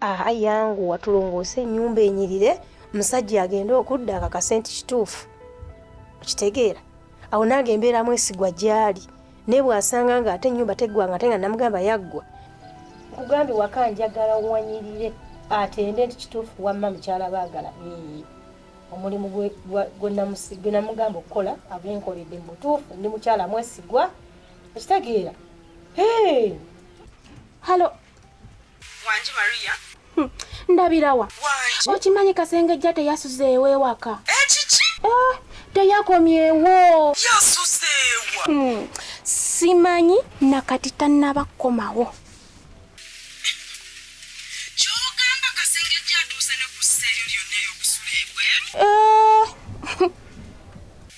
Aha yanguwa tulongoose ennyumba enyirire musajja agende okudda akakase nti kituufu okitegeera awo nange embeera mwesigwa gyali naye bwasanga nga ate ennyumba teggwanga ate nga namugamba yaggwa nkugambye waka njagala wanyirire atende nti kituufu wamma mukyala baagala omulimu gwe namugamba okukola agenkoledde mu butuufu ndi mukyala mwesigwa okitegeera halo wangi maria hmm, ndabirawa okimanyi kasengejja teyasuzeewo ewaka ekiki eh, eh, teyakomyewo yasuzeewa hmm, simanyi nakati tannaba kukomawo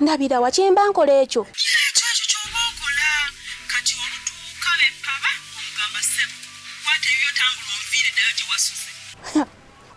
ndabira wa kyemba nkola ekyo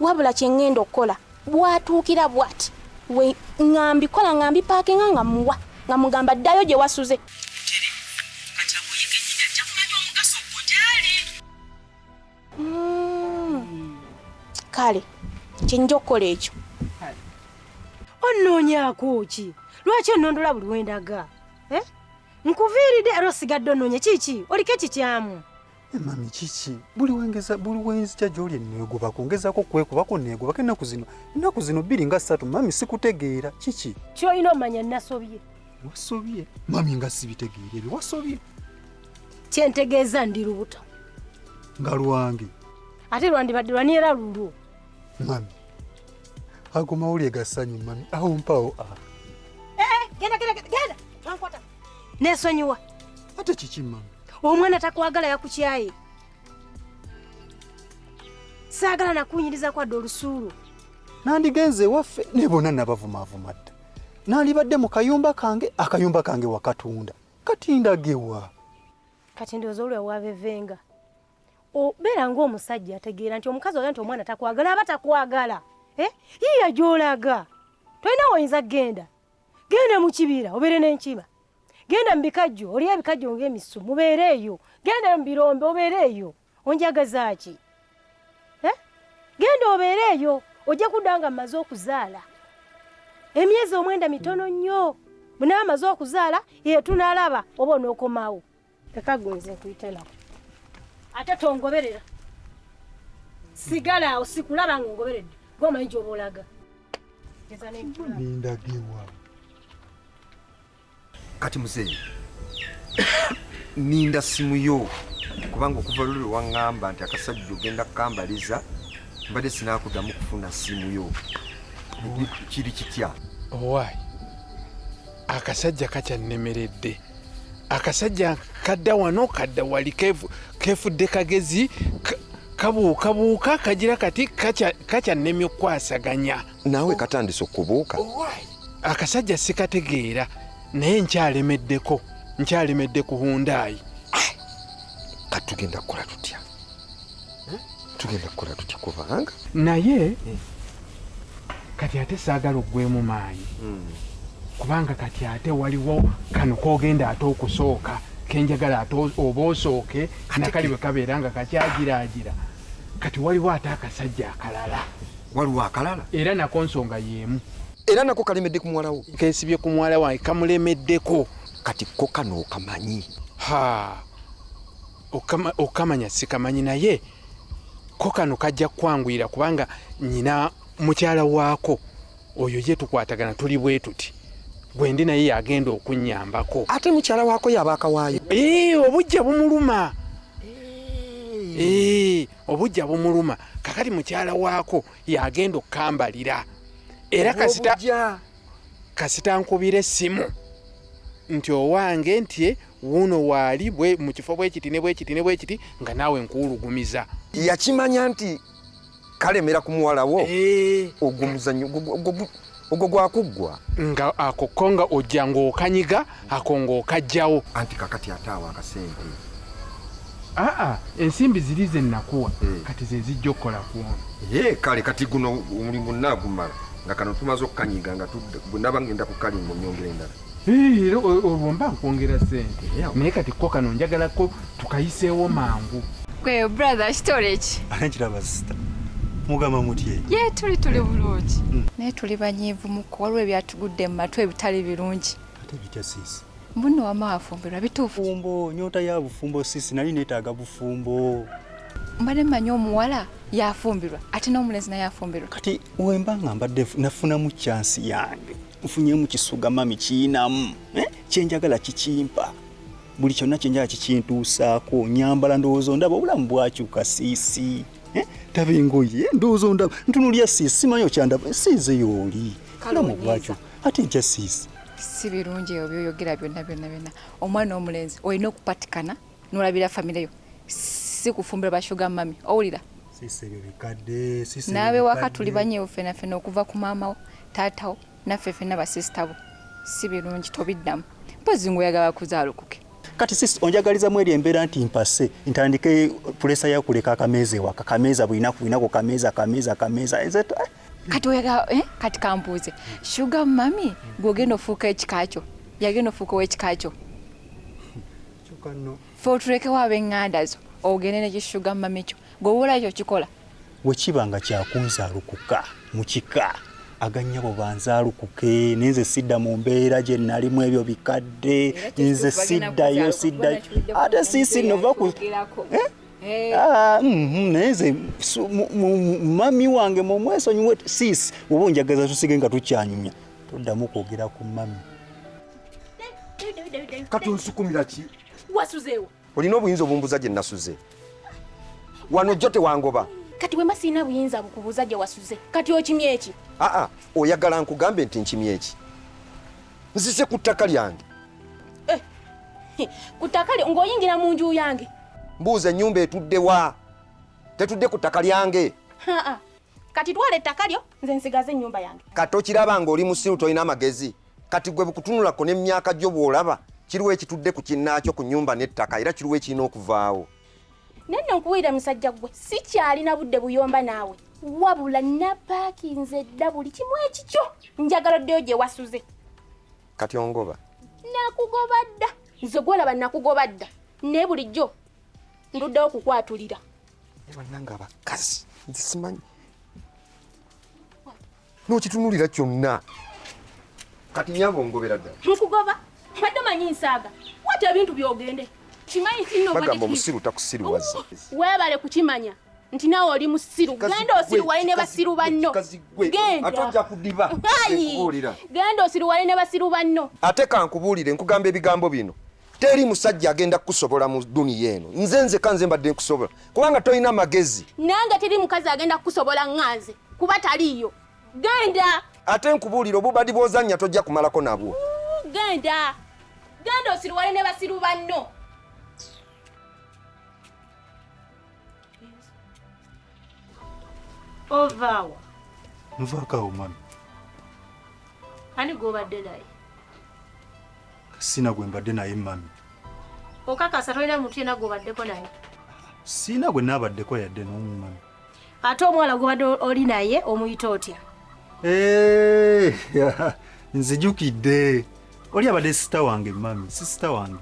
wabula kyeŋŋenda okukola bwatuukira bwati we ŋambikola ŋambipaakinga nga muwa nga mugamba ddayo gye wasuze mm. kale kyenyinja okukola ekyo onnoonyakuki lwaki onnondola buli wendaga eh? nkuviiride era osigadde onnoonya kiki oliko ekikyamu eh, mami kiki buli wengeza buli wenzija gyoli enneegobako ngezako kwekubako neegobako ennaku zino ennaku zino bbiri nga ssatu mami sikutegeera kiki kyolina omanya nasobye wasobye mami nga sibitegeera ebyo wasobye kyentegeeza ndi lubuto nga lwange ate lwandibadde lwani era lulwo mami ago mawulire ga ssanyu mami awo mpawo a ah. eh, eh, genda genda genda ankwata nesonyiwa ate kiki mami omwana takwagala yakukyaye saagala nakunyiriza kwadde olusuulu nandigenze ewaffe ne bona nabavumavuma dda nandibadde mu kayumba kange akayumba kange wakatunda kati ndagewa kati ndowooza olwe wabevenga obeera ng'omusajja ategeera nti omukazi oga nti omwana takwagala aba takwagala eh? yiiya gy'olaga tolina woyinza kugenda genda mu kibira obeere n'enkima genda mu bikajjo oli ebikajjo ng'emisu mubeere eyo genda mu birombe obeere eyo onjagaza ki eh? genda obeere eyo ojja kudda nga mmaze okuzaala emyezi omwenda mitono nnyo bwnawe amaze okuzaala yetunalaba oba onookomawo ekagunze nkuyitanaku ate tongoberera sigala awo sikulaba nga ongoberedde gwomanyi gyoba olaga nindagewa kati muzeeyi ninda simu yo kubanga okuva luli lwewaŋŋamba nti akasajja ogenda kukambaliza mbadde sinakudamu kufuna simu yo kiri kitya owaayi akasajja kakyannemeredde akasajja kadda wano kadda wali kefudde kagezi kabuukabuuka kagira kati kakyannemye okukwasaganya naawe katandise okubuuka akasajja sikategeera naye nkyalemeddeko nkyalemedde ku hundaayi kati tugenda kukola tutya tugenda kukola tutya kubanga naye kati ate saagala ogwemu maanyi hmm. kubanga kati ate waliwo kano kogenda ate okusooka kenjagala ate oba osooke nakali bwe kabeera nga kakyagiraagira kati waliwo ate akasajja akalala waliwo akalala era nako nsonga yemu era nako kalemedde ku muwalawo kensibye ku muwala wange kamulemeddeko kati ko kano okamanyi ha okamanya sikamanyi naye ko kano kajja kukwanguyira kubanga nyina mukyala waako oyo ye tukwatagana tuli bwetuti gwendi naye yagenda okunyambako ate mukyala wako yaba akawaayo ee eh, obujja bumuluma ee eh. eh, obujja bumuluma kakati mukyala wako yagenda okukambalira era kasita kasita nkubira essimu nti owange nti wuuno waali mu kifo bwekiti ne bwekiti ne bwekiti nga naawe nkuwulugumiza yakimanya nti kalemera ku muwala wo eh. ogwo muzanyo ogwo gwakuggwa nga akokko nga ojja ng'okanyiga ako ng'okajjawo anti kakati ate awo akasente aa ensimbi ziri ze nnakuwa eh. kati ze zijja okukola kuono ye eh, kale kati guno omulimu nnaagumala nga kano tumaze okukanyiga nga nabangenda ku kalingo nyongera endala era olwo mba nkwongera sente naye kati ko kano njagalako tukayiseewo mangu gwe brother kitole ki ate kiraba sita mugamba mutye ye tuli tuli bulungi hmm. naye tuli banyiivu muko waliwo ebyatugudde mu matu ebitali birungi ate bitya sisi mbuno wama wafumbirwa bituufu fumbo nyota ya bufumbo sisi nali neetaaga bufumbo mbadde mmanyi omuwala yafumbirwa ate n'omulenzi naye afumbirwa kati wemba nga mbadde nafunamu kyansi yange nfunyemu kisuga mami kiyinamu eh? kyenjagala kikimpa buli kyonna kyenjala kikintuusaako nyambala ndowooza ondaba obulamu bwakyuka siisi eh? taba engoye eh? ndowooza ondaba ntunulya siisi simanyi okyandaba siize yooli obulamu bwakyuka ate nkya siisi si birungi ebyo byoyogera byonna byonna byonna omwana omulenzi olina okupatikana nolabira famire yo si kufumbira bashuga mami owulira naabe waka tuli banyeewo fena fena okuva ku maamawo taatawo naffe fena basisita bo si birungi tobiddamu mpozi ngaoyagala kuzaalukuke kati sis onjagalizamu eri embeera nti mpase ntandike pulesa yakuleka akameeza ewaka kameeza bulinaku bulinaku kameeza kameeza kameeza eh? kati oyagala eh? kati kambuuze shuga mami gweogenda ofuuka ekikakyo yagenda ofuuka owekikakyo fe otulekewo abenganda zo ogende nekishuga mumamikyo gwewola ekyo kikola wekiba nga kyakunzalukuka mukika aganyabo banzalukuke nenze sidda mu mbeera gye nalimu ebyo bikadde nze siddayo siddayo ate sisi nova ku eh? Eh. Ah, mhm, naye nze mami wange mumwesonyiwe sisi oba onjagaza tusige nga tukyanyumya toddamu kwogera ku mami kati onsukumira ki wasuzeewo olina obuyinza obumbuza gye nasuze wano jjo tewangoba kati wema sirina buyinza bukubuuza gye wasuze kati okimye eki aa oyagala nkugambe nti nkimye eki nzize ku ttaka lyange eh, ku ttaka lyo ng'oyingira mu nju yange mbuuza ennyumba etudde wa tetudde ku ttaka lyange kati twala ettaka lyo nze nsigaze ennyumba yange kati okiraba ng'oli musiru tolina amagezi kati gwe bukutunulako nemyaka gyo bwolaba kiriwo ekitudde ku kinnaakyo ku nyumba n'ettaka era kiriwo ekirina okuvaawo naye nno nkubuulira musajja gwe sikyalina budde buyomba naawe wabula napaakinze dda buli kimu ekikyo njagala oddeyo gye wasuze kati ongoba nakugoba dda nze gwolaba nakugoba dda naye bulijjo nduddewo okukwatulira banange abakazi nzisimanyi n'okitunulira kyonna kati nyabo ngobera ddala mukugoba mbadde manyi nsaaga wata ebintu byogende kimanyi kinobagamba omusiru takusiriwaza weebale kukimanya nti nawe oli musiru genda osiruwale ne basiru banno genda osiruwale ne basiru banno ate kankubuulire nkugamba ebigambo bino teri musajja agenda kukusobola mu duniya eno nze nzeka nze mbadde nkusobola kubanga tolina magezi nange teri mukazi agenda kukusobola nganze kuba taliiyo genda ate nkubuulira obubadi bwozannya tojja kumalako nabwo genda genda osiruwale ne basiru banno ovaawa nvakawo mami ani gwobadde naye Sina gwe mbadde naye mami. Okakasa tolina muntu yena gwobaddeko naye? Sina gwe nabaddeko yadde nomu mami. Ate omuwala gwobadde oli naye omuyita otya? Eh, nzijukidde oli abadde sisita wange mami, sisita wange.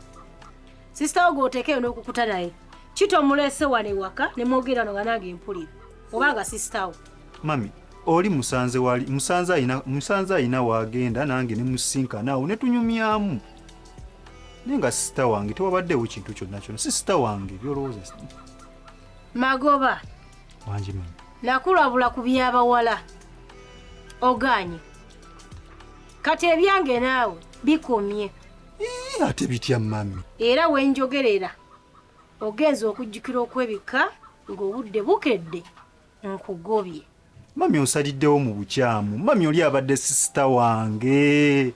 Sisita wo gwotekeyo n'okukuta naye kito mulese wano ewaka ne mwogera no nga nange mpulira oba nga sisita wo. mami oli musanze wali musanze ayina musanze ayina wagenda nange ne musinkana awo ne tunyumyamu naye nga sisita wange tewabaddewo kintu kyonna kyonna si sisita wange byolowooza magoba wangi mami nakulabula ku byabawala oganye kati ebyange naawe bikomye Ii, ate bitya mami era wenjogerera ogenza okujjukira okwebika ng'obudde bukedde nkugobye mami onsaliddewo mu bukyamu mami oli abadde sisita wange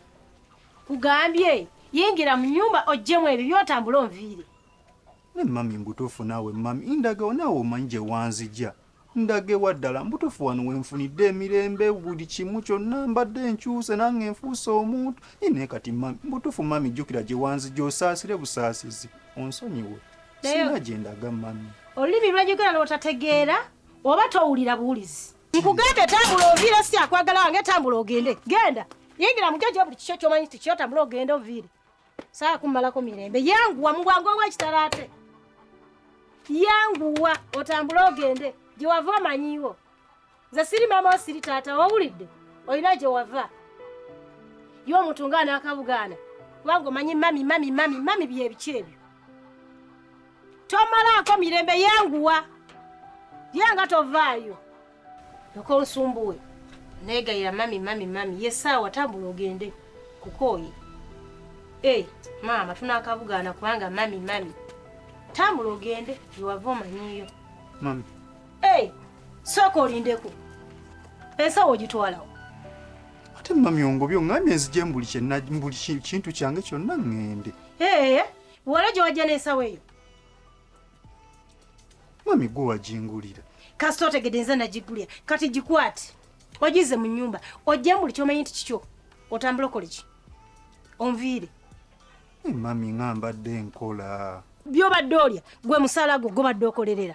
kugambye yingira mu nyumba ojjemu ebyo byotambula onviire ne mami mbutuufu naawe mami indagawo naawe omanyi gye wanzija ndagewa ddala mbutuufu wano wenfunidde emirembe buli kimu kyonna mbadde nkyuse nange enfuuse omuntu naye kati mami mbutuufu mami jjukira gye wanzija osaasire busaasizi onsonyiwe singa gyendaga mami olulimi lwejogera lwotategeera oba towulira buwulizi nkugambye tambula oviire si akwagala wange tambula ogende genda yingira mugejo buli kikyo kyomanyi nti kyo tambula ogende oviire saa kummalako mirembe yanguwa mu bwangu obwekitala ate yanguwa otambule ogende gyewava omanyiiwo nze siri maama wo siri taata wawulidde olina gye wava ye omuntu nga anaakabugaana kubanga omanyi mami mami mami mami byebiki ebyo tomalaako mirembe yenguwa ye nga tovaayo oka onsumbuwe negayira mami mami mami ye saawa tambula ogende kukooye e maama tunaakabugaana kubanga mami mami tambula ogende yewava omanyiyo mami Hey, sooka olindeko ensawo ogitwalawo ate mami ongobye ongambye nzije mbuli kyenna mbuli ki- kintu kyange kyonna ŋŋende ee wala gye wajja n'ensawo eyo mami gwe wagingulira kasita otegedde nze nagigulira kati gikwate ogize mu nnyumba ojjemu buli kyomanyi nti kikyo otambula okole ki onviire Eh, mami nga mbadde nkola byobadde olya gwe musala gwo gobadde okolerera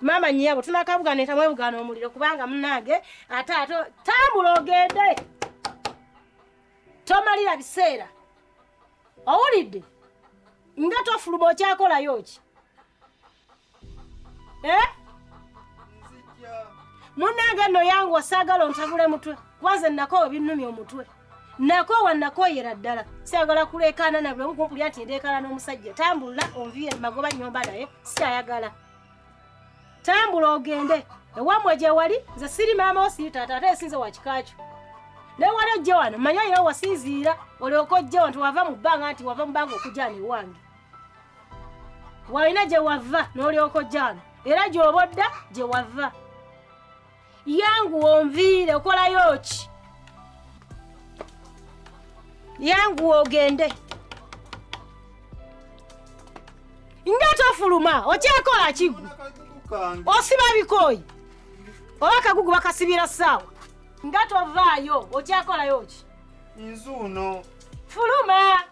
Mama nyabo tunakabuga neta mwebuga no muliro kubanga munange ate ate tambulo ogende. Tomalira biseera. Owulidde? Nga tofuluma okyakola yoki. Eh? Munange no yangu osagala ontabule mutwe. Kwanze nako binnumya omutwe. nakoowa nakooyera ddala siagala kuleekaana nabuli omu kumpulira nti ndeekaana n'omusajja tambula onviire magoba nyomba naye sikyayagala tambula ogende ewamwe gye wali nze siri maama wo siri taata ate esinze wakikakyo naye wali ojje wano manya olina wasinziira olyoka ojje wano tewava mu bbanga nti wava mu bbanga okujana ewange walina gye wava n'olyoka ojja wano era gy'oba odda gye wava yangu onviire okolayo ki yangu ogende nga tofuluma okyekola kigu osiba bikooyi oba kagugu bakasibira saawa nga tovaayo okyakolayo ki nzuuno fuluma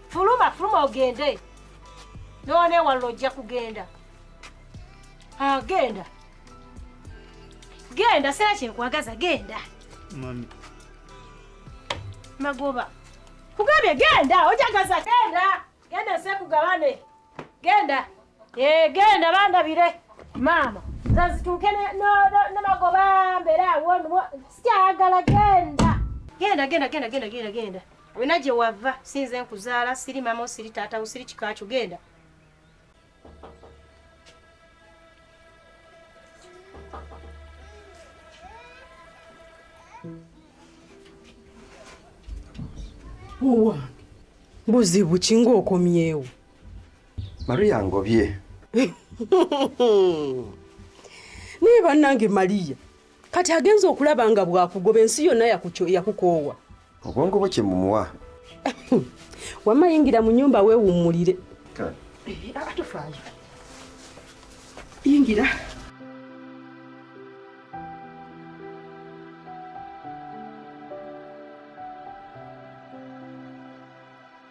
fuluma fuluma ogende nonewalula ojja kugenda agenda ah, genda sera kyekwagaza genda mami magoba kugambye genda ojagaza genda Genda sekugabane. Genda. Eh, genda bandabire. Maama. Zazituuke ne no ne magoba mbera wonu. Sikyagala genda. Genda genda genda genda genda genda. Wena gye wava sinze nkuzaala siri mama siri taata siri kikakyo genda. owange buzibu ki ng'okomyewo mariya ngobye naye bannange mariya kati agenza okulaba nga bwakugoba ensi yonna yakukoowa obwongo bwe kyemumuwa wamma yingira mu nyumba weewummulire eh, ah, tofaayo yingira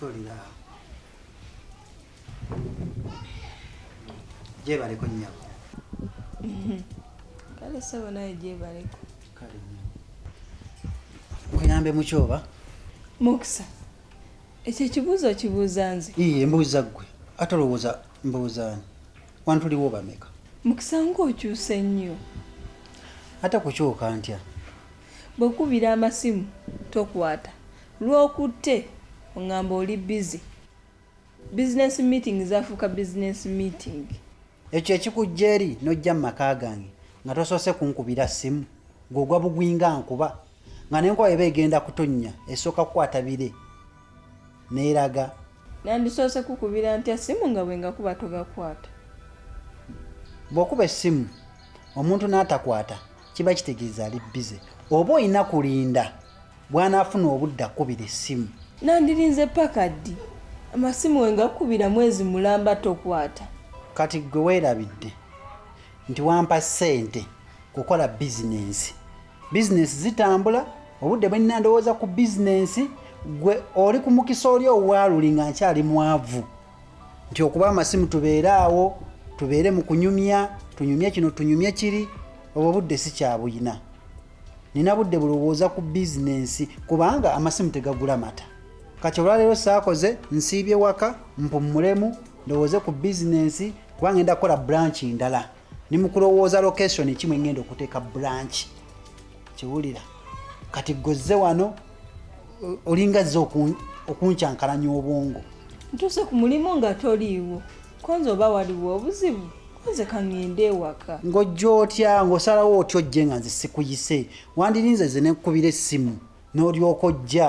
tolira gyebaleko nyabo kale sebo naye gyebaleko kale nyabo kuyambe mukyoba mukisa ekyo ekibuuzo okibuuza nze iye mbuuza ggwe ate olowooza mbuuzaani Wano tuliwo bameka? Mukisa ng'okyuse nnyo. Ate kukyuka ntya? Bwe nkukubira amasimu tokwata, lw'okutte ong'amba oli bbize. Bizinensi miitingi zaafuuka bizinensi miitingi. Ekyo ekikujja eri n'ojja mu maka gange nga tosoose kunkubira ssimu, ggwe ogwa bugwi nga nkuba, nga n'enkuba bw'eba egenda kutonnya esooka kukwata bire. neeraga nandisoose kukubira ntya ssimu nga bwe ngakuba togakwata bw'okuba essimu omuntu n'atakwata kiba kitegeeza ali bize oba olina kulinda bw'anaafuna obudde akubira essimu nandirinze paka ddi amasimu we ngakukubira mwezi mulamba tokwata kati ggwe weerabidde nti wampa ssente kukola bizinensi bizinensi zitambula obudde bwenina ndowooza ku bizinensi gwe oli ku mukisa oli owaaluli nga nkyali mwavu nti okuba amasimu tubeere awo tubeere mu kunyumya tunyumye kino tunyumye kiri obwo budde sikyabuyina nina budde bulowooza ku bizinensi kubanga amasimu tegagula mata kati olwaleero saakoze nsiibye waka mpummulemu ndowooze ku bizinensi kubanga enda kukola branchi ndala ni mukulowooza location ki mwengenda okuteeka branch kiwulira kati gwezze wano olinga zze okuncankalanya obwongo ntuuse ku mulimu nga toliiwo konze oba waliwo obuzibu konze kaŋŋende ewaka ng'ojja otya ng'osalawo otya ojje nga nze sikuyise wandirinze ze nekukubira essimu n'olyoka ojja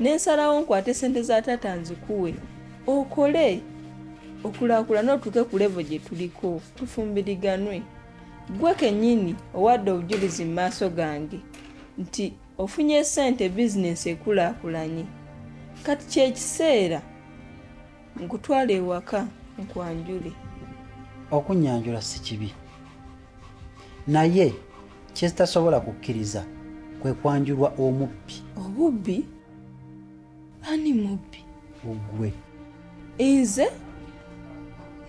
ne nsalawo nkwate ssente za taata nzikuwe okole okulaakulana otuuke ku levo gye tuliko tufumbiriganwe gwe kennyini owadde obujulizi mu maaso gange nti ofunye ssente bizinensi ekulaakulanye kati kyekiseera nkutwala ewaka nkwanjule okunyanjula si kibi naye kyezitasobola kukkiriza kwe kwanjulwa omubbi obubbi ani mubbi ogwe nze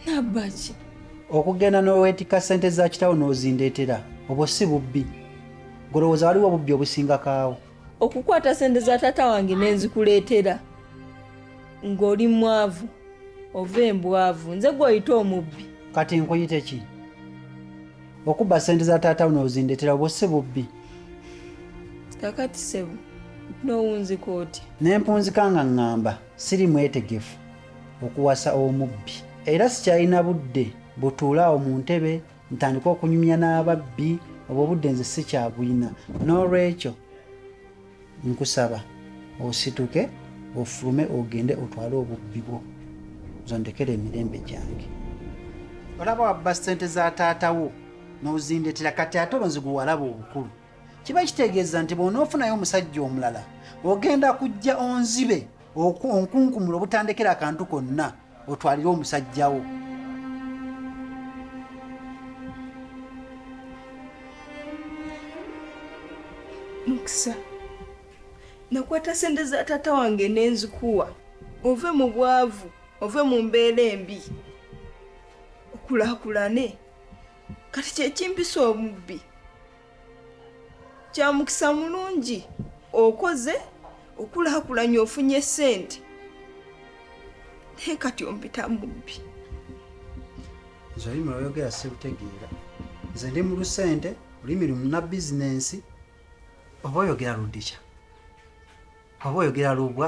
nabbaki okugenda n'oweetika ssente za kitawo n'ozindeetera obwo si bubbi golowooza waliwo obubbi obusingakaawo okukwata sente za taata wange nenzikuleetera ng'oli mwavu ova embwavu nze gweoyita omubbi kati nkuyite ki okubba sente za taata uno ozindetera obwo si bubbi kakati sebo nowunzika otya nempunzika nga ŋŋamba siri mwetegefu okuwasa omubbi era sikyalina budde butuulaawo mu ntebe ntandika okunyumya n'ababbi obwo obudde nze sikyabulina n'olwekyo nkusaba osituke ofulume ogende otwale obubbi bwo zondekera emirembe gyange olaba wabba ssente za taatawo n'ozindetera kati ate olwo nziguwalaba obukulu kiba kitegeeza nti bw'onoofunayo omusajja omulala ogenda kujja onzibe onkunkumula obutandekera akantu konna otwalire omusajjawo mukisa nakwata sente za taata wange nenzikuwa ove mu bwavu ove mu mbeera embi okulakulane kati kyekimpisa omubbi kya mukisa mulungi okoze okulakulanya ofunye sente naye kati ompita mubbi zolimi oyogera sibutegeera nze ndi mu lusente olulimi lumuna bizinensi oba oyogera ludikya oba oyogera lubwa